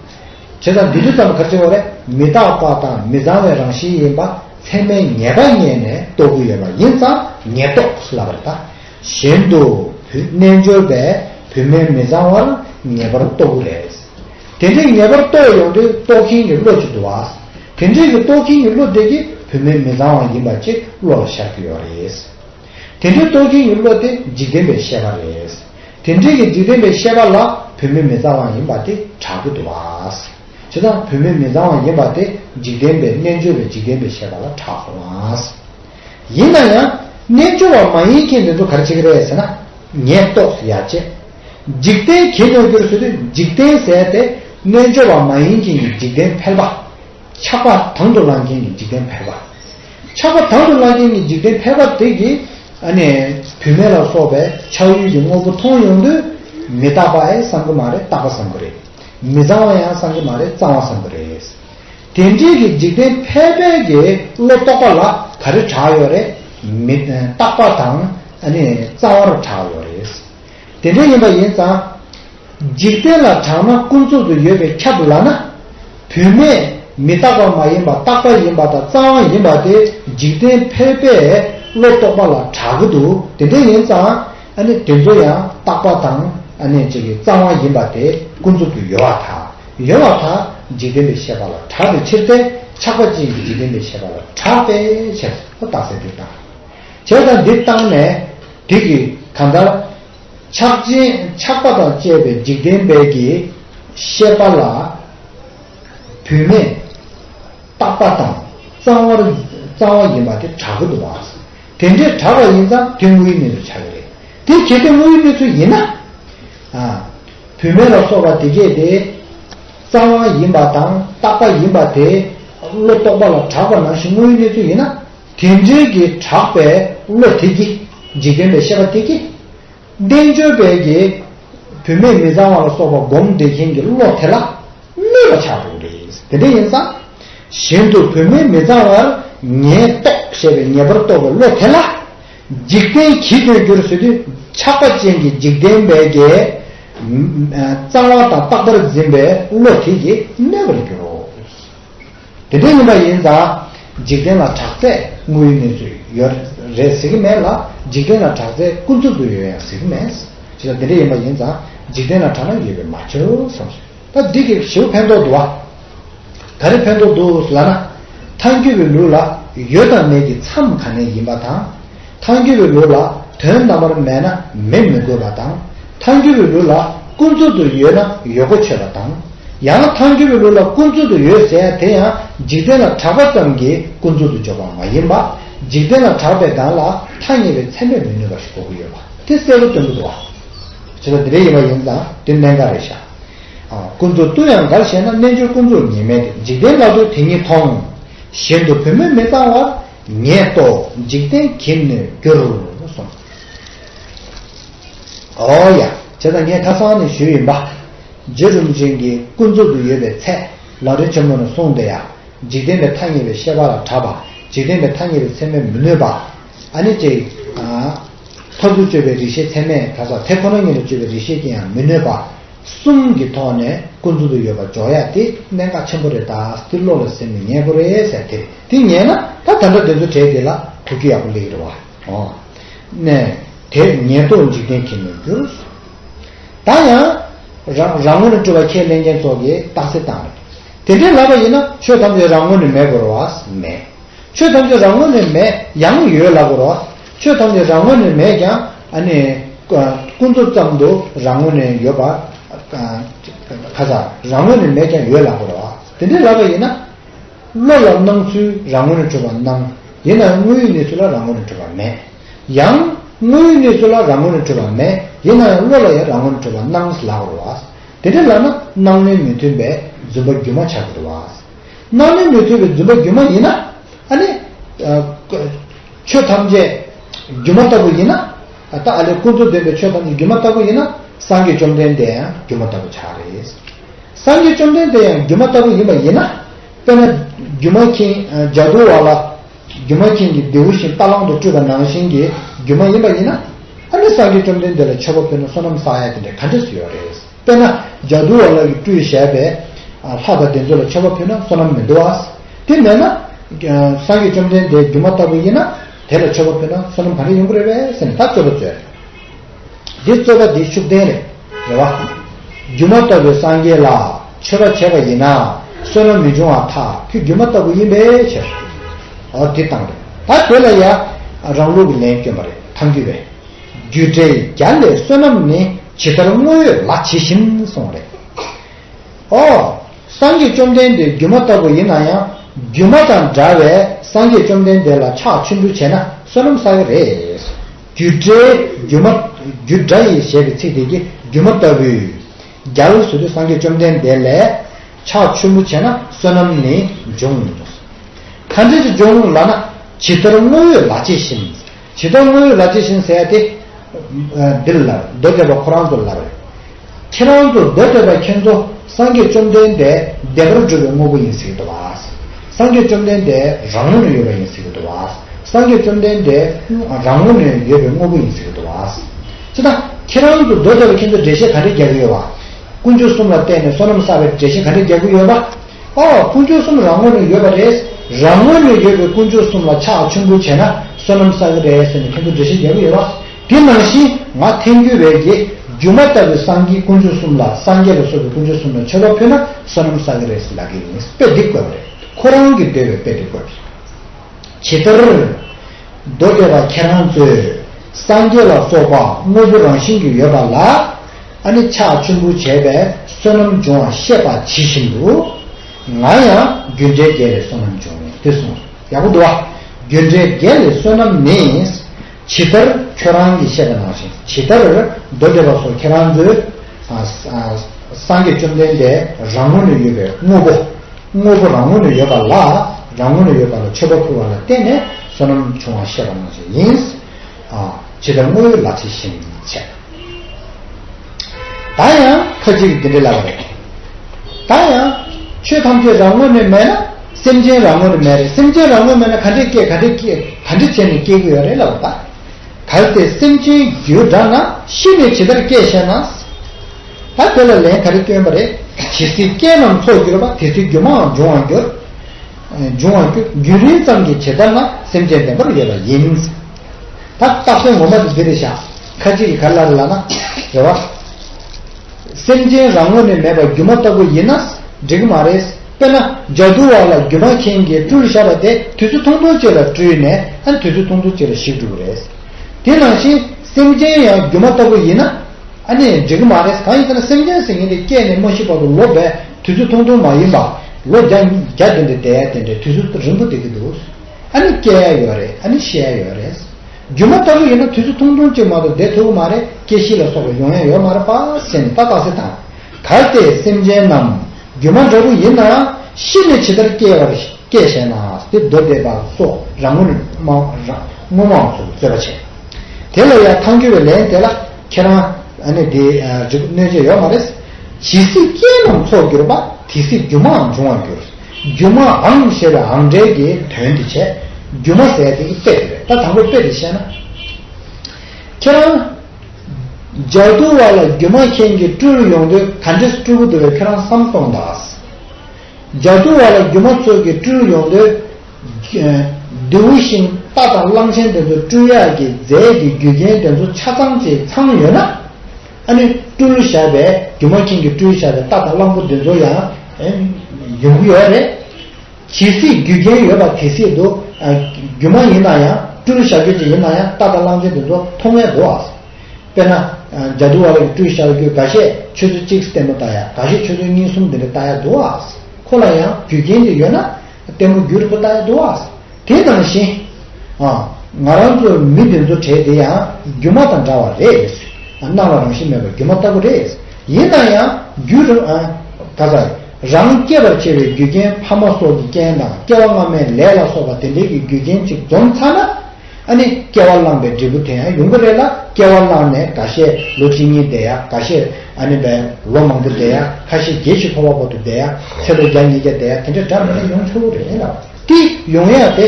བྱེད་དང་འདུས་རྒྱུ་ཙམ་གར་བྱེད་པ་ལས་མི་རྟག་པ་དང་མི་གཙང་བའི་རང་བཞིན་ཡིན་པ་ཚད་མའི་ངེས་པ་རྙེད་ནས་རྟོགས་རྒྱུ་ཡོད་པ་ཡིན་ཙང་ངེས་རྟོགས་སུ་ལབ་པར་གདའ། གཞན་དུ། རྣལ་འབྱོར་པས་བུད་མེད་མི་གཙང་བར་ངེས་པར་རྟོགས་རྒྱུ་རེད། དེ་འདྲའི་ངེས་པར་རྟོགས་ཡོང་དུས་རྟོགས་མཁན་གྱི་བློ་ཅི་འདུག་བ། དེ་འདྲའི་གི་རྟོགས་མཁན་གྱི་བློ་དེ་གི་བུད་མེད་མི་བཟང་བ་ཡིན་པ་གཅིག་བློ་ལ་ཤར་གྱི་ཡོད་རེད། དེ་འདྲའི་རྟོགས་མཁན་གྱི་བློ་དེ་འཇིག་རྟེན་པའི་ཤེས་པ་རེད། དེ་འདྲའི་གི་འཇིག་རྟེན་པའི་ཤེས་པ་ལ་བུད་མེད་མི་བཟང་བ་ཡིན་པ་དེ་དྲག་གི་འདུག་བྱས་ཙང་བུད་མེད་མི་བཟང་བ་ཡིན་པ་དེ་འཇིག་རྟེན་པའི་རྣལ་འབྱོར་བའི་འཇིག་རྟེན་པའི་ཤེས་པ་ལ་དྲག་སོང་བ། ཡིན་ན་ཡང་རྣལ་འབྱོར་བ་མ་ཡིན་མཁན་འདི་ཚོ་ག་རེ་བྱེད་ཀྱི་རེད་ཟེར་ན། ངས་རྟོགས་སུ་ཡ་བྱེད། འཇིག་རྟེན་གྱི་གནོད་འགྱུར་ཟེར་དུས་འཇིག་རྟེན་ཟེར་ཏེ། རྣལ་འབྱོར་བ་མ་ཡིན་མཁན་གྱི་འཇིག་རྟེན་ཕལ་པ། ཆགས་པ་དང་དུ་བླང་མཁན་གྱི་འཇིག་རྟེན་ཕལ་པ། ཆགས་པ་དང་དུ་བླང་མཁན་གྱི་འཇིག་རྟེན་ཕལ་པ་དེ་གིས་ཨ་ནི། བུད་མེད་ལ་སོགས་པའི་ཆགས་ཡུལ་གྱི་དངོས་པོ་མཐོང་ཡོང་དུས། མི་རྟག་པ་ཨེ་བསམ་གྱི་མ་རེད་རྟག་པ་བསམ་གྱི་རེད། མི་གཙང་བ་ཡང་བསམ་གྱི་མ་རེད་གཙང་བ་བསམ་གྱི་རེད། དེ་འབྲེལ་གྱི་འཇིག་རྟེན་ཕལ་པའི་དགེ་བློ་རྟོགས་པ་ལ་ག་རེ་གྲགས་ཡོད་རེད། མི་རྟག་པ་དང་གཙང་བར་གྲགས་ཡོད་རེད། དེ་འདྲ་ཡིན་པ་ཡིན་ཙང། འཇིག་རྟེན་ལ་གྲགས་ན་ཀུན་རྫོབ་ཏུ་ཡོད་པའི་ཁྱབ་ལ་ན། བུད་མེད་མི་རྟག་པ་མ་ཡིན་པ་རྟག་པ་ཡིན་པ་དང་གཙང་བ་ཡིན་པ་དེ་འཇིག་རྟེན་ཕལ་པའི་བློ་རྟོགས་པ་ལ་གྲགས་གི་འདུག་དེ་འདྲ་ཡིན་ཙང། ཨ་ནི་དེ་ཚོ་ཡང་རྟག་པ་དང་ཨ་ནི་བཅས་ཀྱི་རྩ་བ་ཡིན་པ་དེ་ཀུན་རྫོབ་ཏུ་ཡོད་བ་དང་ཡོད་བ་དག་འཇིག་རྟེན་པའི་ཤེས་པ་ལ་གྲགས་པའི་ཕྱིར་ཏེ་ཆགས་པ་ཅན་གྱི་འཇིག་རྟེན་པའི་ཤེས་པ་ལ་གྲགས་པས་བྱས་སོ་རྟགས་གསལ་འདི་ལྟར། བྱས་དང་འདི་བརྟགས་ནས་དེ་གིས་གང་ལྟར། ཆགས་ཅན་ཆགས་པ་དང་བཅས་པའི་འཇིག་རྟེན་པའི་ཀྱི་ཤེས་པ་ལ་བུད་མེད་རྟག་པ་དང་རྩ་བ་ཡིན་པ་དེ་གྲགས་ཀྱི་འདུག་བ། དེ་འདྲས་གྲགས་པ་ཡིན་ཙང་དེ་དངོས་ཡུལ་མིན་དུ་ཆགས་ཀྱི་རེད། དེ་གལ་ཏེ་དངོས་ཡུལ་མིན་ཚུལ་ཡིན་ན། བུད་མེད་ལ་སོགས་པ་དེ་སྐད་དེ། རྩ་དབང་ཡིན་པ་དང་རྟག་པ་ཡིན་པ་དེ། བློ་རྟོག་པ་ལ་གྲགས་པ་ནང་བཞིན་དངོས་ཡུལ་གནས་ཚུལ་ཡིན་ན། དེ་འདྲས་ཀྱི་གྲགས་པའི་བློ་དེ་ཀྱིས་འཇིག་རྟེན་པའི་ཤེས་པ་དེ་ཀྱིས། བསྟན་བཅོས་དཔལ་གྱིས། བུད་མེད་མི་གཙང་བ་ལ་སོགས་པ་སྒོམ་བདེ་མཁན་གྱི་བློ་དེ་ལ་གནས་པ་ཆགས་པའི་རིགས་ཡིན། དེ་འདྲ་ཡིན་ཙང། གཞན་དུ་བུད་མེད་མི་གཙང་བར་ངས་རྟོགས་ཞེས་པའི་ངེས་པར་རྟོགས་པའི་བློ་དེ་ལ། འཇིག་རྟེན་གྱིས་དོན་བསྒྱུར་བཟོད་དུས་ཆགས་པ་ཅན་གྱི་འཇིག་རྟེན་དཔལ་གྱིས། གཙང་བ་དང་རྟག་པར་འཛིན་པའི་བློ་དེ་ཀྱིས་གནས་པར་འགྱུར་རོ། དེ་འདྲ་ཡིན་པ་ཡིན་ཙང་འཇིག་རྟེན་ལ་དྲག་རྩལ་དངོས་ཡོད་གནས་ཚུལ་ཡོད་རེད་ཟེར་གྱི་མེད་ལ་འཇིག་རྟེན་ལ་དྲག་རྩལ་ཀུན་རྫོབ་ཏུ་ཡོད་ཡང་ཟེར་གྱི་མེད། ཅི་ལ་དེ་འདྲ་ཡིན་པ་ཡིན་ཙང་འཇིག་རྟེན་ལ་དྲག་ན་ཡོད་པས་མ་ཁྱོད་བསམ་ཞིག་ད་འདི་གི་ཞེའུ་ཕན་ཐོགས་འདུག་ཨ། ད་རེ་ཕན་ཐོགས་འདུག་ལ་ན། མཐའ་འཁྱོལ་བའི་ལུགས་ལ་ཡོད་དང་མེད་ཀྱི་མཚམས་ག་ནས་ཡིན་པ་དང། མཐའ་འགྱུར་བའི་ལུགས་ལ་དོན་རྣམ་པར་མེད་ན་མེད་མི་དགོས་པ་དང། མཐའ་འགྱུར་བའི་ལུགས་ལ་ཀུན་རྫོབ་ཏུ་ཡོད་ན་ཡོད་གོ་ཆོད་པ་དང། ཡང་མཐའ་འགྱུར་བའི་ལུགས་ལ་ཀུན་རྫོབ་ཏུ་ཡོད་ཟེར་ཡང་དེ་ཡང་འཇིག་རྟེན་ལ་གྲགས་པ་ཙམ་གྱིས་ཀུན་རྫོབ་ཏུ་འཇོག་པ་མ་ཡིན་པ། འཇིག་རྟེན་ལ་གྲགས་པའི་སྒང་ལ་ཐ་སྙད་པའི་ཚད་མས་མི་གནོད་པ་ཞིག་གོ་གི་ཡོད་པ་དེ་གསལ་པོ་སྟོན་གི་འདུག་བ། བྱས་ཙང་དེ་འདྲའི་ཡིན་པ་ཡིན་ཙང་དེ་གནད་འགག་རེད་ཤག། ཀུན་རྫོབ་ལྟོས་ཡང་འགར་བཤད་ན་རྣལ་འབྱོར་ཀུན་རྫོབ་ཉིད་མེད་དེ་འཇིག་རྟེན་བླ་རྡོ་དེ་ཉིད་མཐོང། གཞན་དུ་བུད་མེད་མི་གཙང་བར་ངས་རྟོགས་འཇིག་རྟེན་གྱིས་ནོད་གྱུར་གསུངས། ཨོ་ཡ། བྱས་ཙང་ངས་ཁ་སང་ནས་ཞུས་ཡིན་པ། རྗེ་རིན་པོ་ཆེ་འདི་ཀུན་རྫོབ་ཏུ་ཡོད་པའི་ཚད་ལ་རིན་ཆེན་མོ་ནས་གསུངས་འདི་ཡང་འཇིག་རྟེན་པའི་ཐ་སྙད་པའི་ཤེས་པ་ལ་གྲགས་པ་འཇིག་རྟེན་པའི་ཐ་སྙད་པའི་ཚད་མས་མི་གནོད་པ། ཨ་ནི་ཅིག། མཐར་ཐུག་དཔྱོད་པའི་རིག་ཤེས་ཚད་མས་གྲགས་ས་དེ་ཁོ་ན་ཉིད་ལ་དཔྱོད་པའི་རིག་ཤེས་ཀྱིས་ཡང་མི་གནོད་པ། གསུམ་གྱི་ཐོག་ནས་ཀུན་སྤྱོད་དུ་ཡོད་པ་འཇོག་ཡ་དེ་གནད་འགག་ཆེན་པོ་རེད་ད་སྟི་བློ་ལ་སེམས་ནས་ཉན་དགོས་རེད་ཟེར་དེ་རེད་དེ་ཉན་ན་ད་ད་འདྲ་དེ་ཚོ་གྲས་དེ་ལ་དོ་རྒྱུ་ཡག་པོ་ལེགས་རེད་བ་ཨོ། ནས་དེ་ཉན་ཐོག་འཇིག་རྟེན་གྱི་ནོར་འགྱུར། ད་ཡང། རང་རང་ངོ་ནས་སྤྲོ་བ་ཁས་ལེན་མཁན་ཚོ་གི་རྟགས་གསལ་བཏང་རེད། དེ་འདྲའི་ལབ་པ་ཡིན་ན་ཆོས་ཐམས་ཅད་རང་ངོ་ནས་མེད་དགོས་རོགས། མེད། ཆོས་ཐམས་ཅད་རང་ངོ་ནས་མེད་ཡང་ཡོད་ལབ་དགོས་རོགས། ཆོས་ཐམས་ཅད་རང་ངོས་ནས་མེད་ཀྱང། ནི། ཀུན་རྫོབ་ཙམ་དུ་རང་ངོས་ནས་ཡོད་པ། ཁ་སང། རང་ངོས་ནས་མེད་ཀྱང་ཡོད་ལབ་པ་རེད། དེ་འདྲའི་ལབ་པ་ཡིན་ན། བློ་ལ་སྣང་ཚུལ་རང་ངོས་ནས་གྲུབ་པར་སྣང། ཡིན་ནའང་དངོས་ཡུལ་གནས་ཚུལ་ལ་རང་ངོས་ནས་གྲུབ་པ་མེད། ཡང། དངོས་ཡུལ་གནས་ཚུལ་ལ་རང་ངོས་ནས་གྲུབ་པ་མེད། ཡིན་ནའང་བློ་ལ་ཡང་རང་ངོས་ནས་གྲུབ་པར་སྣང་ཞེས་ལབ་པ་རེད། དེ་འདྲའི་ལབ་ན་སྣང་ལེན་མི་མཐུན་པའི་རྫུན་པ་རྒྱུན་མ་ཆགས་ཀྱི་རེད། སྣང་ལེན་མི་མཐུན་པའི་རྫུན་པ་རྒྱུན་མ་ཡིན་ན། ནི། ཆོས་ཐམས་ཅད་སྒྱུ་མ་ལྟ་བུ་ཡིན་ན། ད་ཨ་ལས་ཀུན་རྫོབ་བདེན་པའི་ཆོས་ཐམས་ཅད་སྒྱུ་མ་ལྟ་བུ་ཡིན་ན། སངས་རྒྱས་བཅོམ་ལྡན་འདས་ཡང་སྒྱུ་མ་ལྟ་བུ་ཆགས་རེད། སངས་རྒྱས་བཅོམ་ལྡན་འདས་ཡང་སྒྱུ་མ་ལྟ་བུ་ཡིན་པ་ཡིན་ན། དཔེར་ན། སྒྱུ་མ་མཁྱེན་ལྗགས་བསྡུ་བ་ལ། སྒྱུ་མ་མཁྱེན་གྱི་རྡེའུ་བཞིན་རྟ་གླང་དུ་སྤྲུལ་པ་ནང་བཞིན་གྱི་སྒྱུ་མ་ཡིན་པ་ཡིན་ན། ཨ་ནི་སངས་རྒྱས་བཅོམ་ལྡན་འདས་ལ་མཆོད་པ་ཕུལ་ན་བསོད་ནམས་བསགས་ཡ་དེ་འདྲ་ག་འདྲས་སུ་ཡོད་རེད། དཔེར་ན་ལྗགས་འདུལ་བ་ལ་ཡིག་འབྲུ་ཡིས་བྱས་པའི། ལྷག་པ་དེ་ཚོ་ལ་མཆོད་པ་ཕུལ་ན་བསོད་ནམས་མི་འདུ་བ། དེ་མེད་ན། སངས་རྒྱས་བཅོམ་ལྡན་འདས་སྒྱུ་མ་ལྟ་བུ་ཡིན་ན། དེ་ལ་མཆོད་པ་ཕུལ་ན་བསོད་ནམས་ག་རེ་ཡོང་གི་རེད་པས་ཟེར་ནས་ད་རྩོད་པ་རྩོད། འདི་རྩོད་པ་འདི་ཤུགས་ལྡན་རེད། རེ་བ། སྒྱུ་མ་ལྟ་བུའི་སངས་རྒྱས་ལ་མཆོད་པ་བྱས་པ་ཡིན་ན། བསོད་ནམས་མི་འབྱུང་བ་ཐག་ཁྱོད་སྒྱུ་མ་ལྟ་བུ་ཡིན་པས་ཁྱེར། འོ་དེ་སྟངས་རེད། ད་དེ་ལ་ཡ། རང་ལུགས་ཀྱི་ལན་བསྐྱོན་པ་རེད་ཐང་རྒྱུད་པས། རྒྱུད་འགྲེལ་བརྒྱ་ལས་བསོད་ནམས་ནི་ཇི་ལྟར་དངོས་ཡོད་ལ་ཇི་བཞིན་གསུངས་རེད། ཨོ། སངས་རྒྱས་བཅོམ་ལྡན་འདས་སྒྱུ་མ་ལྟ་བུ་ཡིན་ན་ཡང་སྒྱུ་མ་དང་འདྲ་བས་སངས་རྒྱས་བཅོམ་ལྡན་འདས་ལ་ཕྱག་ཆུན་འབུལ་བྱས་ན་བསོད་ནམས་བསགས་ཀྱི་རེད། རྒྱུད་འགྲེལ་སྒྱུ་མ། རྒྱུད་སྒྲ་ཡིས་ཞེས་པའི་ཚིག་དེ་ཀྱིས་སྒྱུ་མ་ལྟ་བུས། བརྒྱ་ལ་ཟུར་དུ་སངས་རྒྱས་བཅོམ་ལྡན་འདས་ལས། ཕྱག་ཆུན་འབུལ་བྱས་ན་བསོད་ནམས་ནི་འབྱུང། མཐའ་འབྲས་སུ་འབྱུང་ལགས་ན་ཇི་ལྟར་དངོས་ཡོད་ལ་ཇི་བཞིན། ཇི་ལྟར་སྔོན་ཡུལ་ལ་ཇི་བཞིན་ཟད་དེ། འདིར་ལར་མདོ་སྡེ་པ་ཁོ་རང་ཚོ་ལར། ཁྱེད་རང་ཚོ་མདོ་སྡེ་པ་ཁྱེད་ཚོ་སངས་རྒྱས་བཅོམ་ལྡན་འདས་བདེན་པར་གྲུབ་པའི་དངོས་པོ་ཡིན་ཟེར་གི་འདུག་བ། སངས་རྒྱས་བཅོམ་ལྡན་འདས་རང་ངོ་ནས་ཡོད་པ་ཡིན་ཟེར་གི་འདུག་བ། སངས་རྒྱས་བཅོམ་ལྡན་འདས་རང་ངོ་ནས་ཡོད་པའི་དངོས་པོ་ཡིན་ཟེར་གི་འདུག་བ། ཅི་ལྟར་ཁྱེད་རང་ཚོ་མདོ་སྡེ་པ་ཁྱེད་ཚོ་འགྲེལ་བཤད་ག་འདྲས་རྒྱག་གི་ཡོད་བ། དཀོན་མཆོག་གསུམ་ལ་བརྟེན་ནས་བསོད་ནམས་བསགས་པའི་འགྲེལ་བཤད་ག་འདྲས་རྒྱག་གི་ཡོད་བ། ཨ། སྐུ་མཆོག་གསུམ་རང་ངོས་ནས་ཡོད་པ་རེད། རང་ངོས་ནས་ཡོད་པའི་སྐུ་མཆོག་གསུམ་ལ་ཕྱག་མཆོད་འབུལ་བྱས་ན་བསོད་ནམས་བསགས་ཀྱི་རེད་ཟེར་ནས་ཁྱེད་ཚོ་འགྲེལ་བཤད་རྒྱག་གི་ཡོད་པ། དེ་ནང་བཞིན་ང་ཐེངས་རྒྱུས་རེད་རྗེ་སྒྱུ་མ་ལྟ་བུའི་སངས་རྒྱས་སྐུ་མཆོག་གསུམ་ལ་སངས་རྒྱས་ལ་སོགས་པའི་སྐུ་མཆོག་གསུམ་ལ་མཆོད་པ་ཕུལ་ན་བསོད་ནམས་བསགས་ཀྱི་རེད་ཟེར་ལབ་ཀྱི་ཡིན་དཔེ་དེབ་བཀོད་པ་རེད་ཁོ་རང་གི་འབྲེལ་བའི་དཔེ་དེབ་བཀོད་པ་རེད། ཇི་ལྟར། མདོ་སྡེ་པ་ཁྱེད་རང་ཚོས་སངས་རྒྱས་ལ་སོགས་པ་དངོས་པོ་རང་བཞིན་གྱིས་ཡོད་པ་ལ་ཨ་ནི་ཕྱག་ཆེན་པོ་བྱས་པས་བསོད་ནམས་འབྱུང་བར་བཤད་པ་ཇི་བཞིན་དུ། ང་ཡང་རྒྱུ་འབྲས་བརྒྱད་ལས་བསོད་ནམས་འབྱུང་ངོ་འདི་གསུངས་སོ། ཡག་པོ་འདུག་བ། རྒྱུ་འབྲས་བརྒྱད་ལས་བསོད་ནམས་ནི། ཇི་ལྟར་ཁྱོད་རང་གིས་བཤད་པ་ནང་བཞིན་ཇི་ལྟར་མདོ་སྡེ་པ་སོགས་ཁྱེད་རང་ཚོས། སངས་རྒྱས་བཅོམ་ལྡན་འདས་རང་ངོ་ནས་ཡོད་པའི་དངོས་པོ། དངོས་པོ་རང་ངོ་ནས་ཡོད་པ་ལ་རང་ངོ་ནས་ཡོད་པ་ལ་མཆོད་པ་ཕུལ་བ་ལ་བརྟེན་ནས་བསོད་ནམས་འབྱུང་བར་བཤད་པ་ནང་བཞིན་ཡིན། ཇི་ལྟར་དངོས་ཡོད་ལག་ཆད་བཞིན་འཆད། ད་ཡང་ཁ་ཅིག་འདི་འདྲི་ལབ་པ་རེད། ད་ཡང། ཆོས་ཐམས་ཅད་རང་ངོ་ནས་མེད་ན་སེམས་ཅན་རང་ངོ་ནས་མེད་རེད་སེམས་ཅན་རང་ངོ་མེད་ན་ག་འདྲས་སྐྱེ་ག་འདྲས་སྐྱེ་ག་འདྲི་བྱས་ནས་སྐྱེ་གི་ཡོད་རེད་ལབ་པ། གལ་ཏེ་སེམས་ཅན་རྒྱུ་འདྲ་ན་ཤི་ནས་ཇི་ལྟར་སྐྱེ་ཞེ་ན། ད་དེ་ལ་ལན་ག་རེ་སྐྱོན་པ་རེད། ཇི་སྲིད་རྐྱེན་རྣམས་འཚོགས་གྱུར་པ་དེ་སྲིད་སྒྱུ་མའང་འབྱུང་བར་འགྱུར། འབྱུང་བར་འགྱུར་རྒྱུན་རིང་ཙམ་གྱི་བྱེད་ཐབས་ན་སེམས་ཅན་བདེན་པར་ཡོད་པ་ཡིན། ད་རྟགས་སོ་ངོ་མ་དེ་འདི་རེད་བཞག་ཁ་ཅིག་གིས་ག་ལ་རེད་ལགས་ན། རེད་བ། སེམས་ཅན་རང་ངོ་ནས་མེད་པ་སྒྱུ་མ་ལྟ་བུ་ཡིན་ན་འགྲིག་གི་མ་རེད། དཔེར་ན་རྒྱ་སྒྲུང་བ་ལ་སྒྱུ་མ་མཁན་གྱིས་སྤྲུལ་བཞག་པ་དེ་དུས་ཚོད་ཐུང་ཐུང་ཅིག་ལ་སྤྲུལ་ནས་ཨ་དུས་ཚོད་ཐུང་ཐུང་ཅིག་ལ་ཞིག་འགྲོ་གི་རེད། དེ་ནང་བཞིན་སེམས་ཅན་ཡང་སྒྱུ་མ་ལྟ་བུ་ཡིན་ན། ཨ་ནི་འགྲིག་གི་མ་རེད་གང་ཡིན་ཟེར་ན་སེམས་ཅན་ཟེར་མཁན་དེ་སྐྱེས་ནས་མ་ཤི་བར་དུ་ལོ་བས་དུས་ཚོད་ཐུང་ཐུང་མ་ཡིན་པ། ལོ་བརྒྱ་བརྒྱ་དེ་འདྲའི་འདས་དེ་འདྲའི་དུས་ཚོད་རིང་པོ་འདས་ཀྱི་འདུག། ཨ་ནི་སྐྱེ་ཡ་ཡོད་རེད་ཨ་ནི་ཤི་ཡ་ཡོད་རེད། སྒྱུ་མ་ལྟ་བུ་ཡིན་ན་དུས་ཚོད་ཐུང་ཐུང་གཅིག་མ་གཏོགས་འདས་ཐུབ་ཀྱི་མ་རེད་སྐྱེ་ཤི་ལ་སོགས་པའི་ཡོང་ཡ་ཡོད་མ་རེད་པ་ཟེར་ནས་ཏག་ཏག་ཟེར་དང། གལ་ཏེ་སེམས་ཅན་རྣམས་སྒྱུ་མ་འདྲ་བོ་ཡིན་ན་ཤི་ནས་ཇི་ལྟར་སྐྱེ་བར་སྐྱེ་བཞེངས་ན་དེ་མདོ་སྡེ་པ་སོགས་རང་ངོ་མ་རང་ངོ་མའང་ཚོད་དཔྱད་བྱས། དེ་ལ་ཡང་ཐང་སྐྱོ་བའི་ལན་དེ་ལ། ཁྱེད་རང། ཨ་ནི་འདི། རི་བོ་གནོད་བྱེད་ཡོད་མ་རེད། ཇི་སྲིད་རྐྱེན་རྣམས་ཚོགས་གྱུར་པ། དེ་སྲིད་སྒྱུ་མའང་འབྱུང་བར་འགྱུར། སྒྱུ་མ་འང་ཞེས་པའི་འང་སྒྲའི་དགེའི་དོན་དེ་བྱས། སྒྱུ་མ་ཟད་དེ་དཔེ་དེ་རེད། ད་དང་པོའི་དཔེ་དེ་བཤད་ན། ཁྱེད་རང། ལྗགས་རྡུལ་བ་ལ་སྒྱུ་མ་མཁན་གྱིས་སྤྲུལ་ཡོང་དུས་ག་འདྲི་སྤྲུལ་སྐུ་བསྡུ་བའི་ཁྱེད་རང་བསམ་སོང་གདའ། རྒྱ་བསྐུལ་བ་ལ་སྒྱུ་མ་ཚོགས་ཀྱི་སྤྲུལ་ཡོངས་འདུས། ལྡེའུ་ཤིང་རྟ་དང་གླང་ཆེན་དེ་ཚོ་སྤྲུལ་གཡག་གི་རྫས་ཀྱི་རྒྱུ་རྐྱེན་དེ་ཚོ་ཆ་ཚང་བྱས་ཚང་ཡོད་ན། ཨ་ནི་སྤྲུལ་བཞག་པའི་སྒྱུ་མ་ཁྱིང་གི་སྤྲུལ་བཞག་པའི་རྟ་དང་གླང་པོ་དེ་ཚོ་ཡང་ཡོང་གི་ཡོད་རེད། ཇི་སྲིད་རྒྱུ་རྐྱེན་ཡོད་པ་དེ་སྲིད་དུ། སྒྱུ་མ་ཡིན་ན་ཡང་སྤྲུལ་བཞག་རྒྱུ་ཅི་ཡིན་ན་ཡང་རྟ་དང་གླང་ཆེན་དེ་ཚོ་མཐོང་ངེས་དགོས། དཔེར་ན། རྒྱ་དུ་བ་རིགས་སྤྲུལ་ཤར་རྒྱུད་ག་ཤས་ཆོས་ཚུལ་གཅིག་བསྟན་མོ་ལྟ་ཡ་ག་ཤས་ཆོས་ཚུལ་གཉིས་གསུམ་འདི་འདྲ་ལྟ་ཡ་འདུག་ཨ། ཁོ་ལ་ཡང་རྒྱུ་རྐྱེན་འདི་ཡོད་ན། བསྟན་མོ་རྒྱུ་རིག་པ་ལྟ་ཡ་འདུག་ཨ། དེ་ནང་བཞིན། ཨ། ང་རང་ཚོ་མི་འདི་ཚོ་བྲེལ་དེ་ཡང་རྒྱུ་མ་དང་འདྲ་བ་རེད། སྣང་བ་རང་བཞིན་མེད་པ་རྒྱུ་མ་ལྟ་བུ་རེད། ཡིན་ན་ཡང་རྒྱུ་རུ། ག་ས། རང་སྐྱེད་པར་བྱེད་པའི་རྒྱུ་རྐྱེན་ཕ་མ་སོགས་ཀྱི་རྐྱེན་དང་སྐྱེ་བ་སྔ་མའི་ལས་ལ་སོགས་པ་དེ་འདྲའི་གི་རྒྱུ་རྐྱེན་ཅིག་འཛོམས་ཚར་ན། ཨ་ནི་སྐྱེ་བ་བླངས་པའི་འབྲས་བུ་དེ་ཡང་ཡོང་གི་རེད་ལ་སྐྱེ་བ་བླངས་ནས་འགའ་ཤས་ལོ་གཅིག་གཉིས་བསྡད་ཡ་འགའ་ཤས་ཨ་ནི་བས་ལོ་མང་པོ་བསྡད་ཡ་ཁ་ཤས་བརྒྱད་ཕྱི་ཕོ་བ་བར་དུ་བསྡད་ཡ་ཚེ་ལོ་བརྒྱ་ཉིས་བརྒྱ་བསྡད་ཡ་དེ་འདྲ་འདྲ་མིན་ན་ཡོང་ཆོག་གི་རེད་ལ། དེ་ཡོང་ཡ་དེ་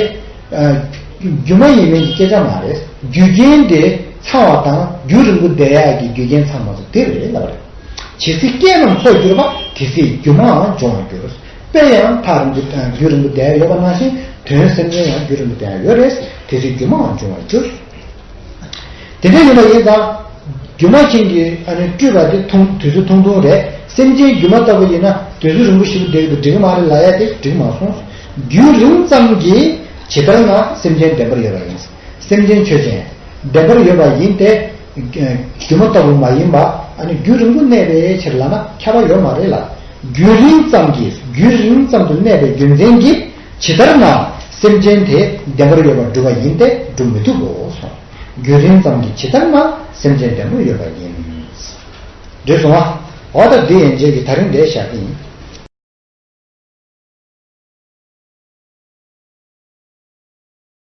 རྒྱུ་མ་ཡིན་མིན་གྱི་སྐད་ཆ་མ་རེད་རྒྱུ་རྐྱེན་དེ་ཚང་བ་དང་རྒྱུ་རིང་པོ་བསྡད་ཡ་གི་རྒྱུ་རྐྱེན་ཚང་མ་སོ་དེ་རེད་ལབ་པ་རེད། ཇི་སྲིད་སྐྱེས་རྣམས་འཚོ་འགྱུར་བ་དེ་སྲིད་རྒྱུ་མའང་འབྱུང་བར་འགྱུར། དཔེར་ཡང་ཕ་རིང་དུ་རྒྱུད་རིང་པོ་བསྡད་ཡོད་པ་ནང་བཞིན་དོན་སེམས་ཅན་ཡང་རྒྱུད་རིང་པོ་བསྡད་ཡོད་རེད། དེ་ཚེ་སྒྱུ་མའང་འབྱུང་བར་འགྱུར། དེ་འདྲ་ཡིན་པ་ཡིན་ཙང། སྒྱུ་མ་མཁན་གྱིས་སྤྲུལ་པ་དེ་ཐུང་དུས་ཚོད་ཐུང་ཐུང་རེད་སེམས་ཅན་སྒྱུ་མ་ལྟ་བུ་ཡིན་ན་དུས་ཚོད་རིང་པོ་ཞིག་བསྡད་ཀྱི་འགྲིག་གི་མ་རེད་ལ་ཡ་དེ་འགྲིག་མ་སོང། རྒྱུད་རིང་ཙམ་གྱིས་ཇི་ལྟར་ན་སེམས་ཅན་བདེན་པར་ཡོད་པ་ཡིན། སེམས་ཅན་ཆོས་ཅན། བདེན་པར་ཡོད་པ་ཡིན་ཏེ། སྒྱུ་མ་ལྟ་བུ་མ་ཡིན་པ། རྒྱུ་རིང་པོ་གནས་པའི་ཕྱིར་ལགས་ན་ཁྱབ་པ་ཡོད་མ་རེད་ལ། རྒྱུ་རིང་ཙམ་གྱིས་རྒྱུ་རིང་ཙམ་དུ་གནས་པའི་རྒྱུ་མཚན་གྱིས་ཇི་ལྟར་ན་སེམས་ཅན་དེ་བདེན་པར་ཡོད་པར་སྒྲུབ་པ་ཡིན་ཏེ་སྒྲུབ་མི་ཐུབ་བོ། རྒྱུ་རིང་ཙམ་གྱིས་ཇི་ལྟར་ན་སེམས་ཅན་བདེན་པར་ཡོད་པ་ཡིན། འདོད་བྱུང་བ། འོ་ད་འདི་ཡན་ཆད་ཀྱི་ད་རིང་འདྲེས་བཞག་གི་ཡིན།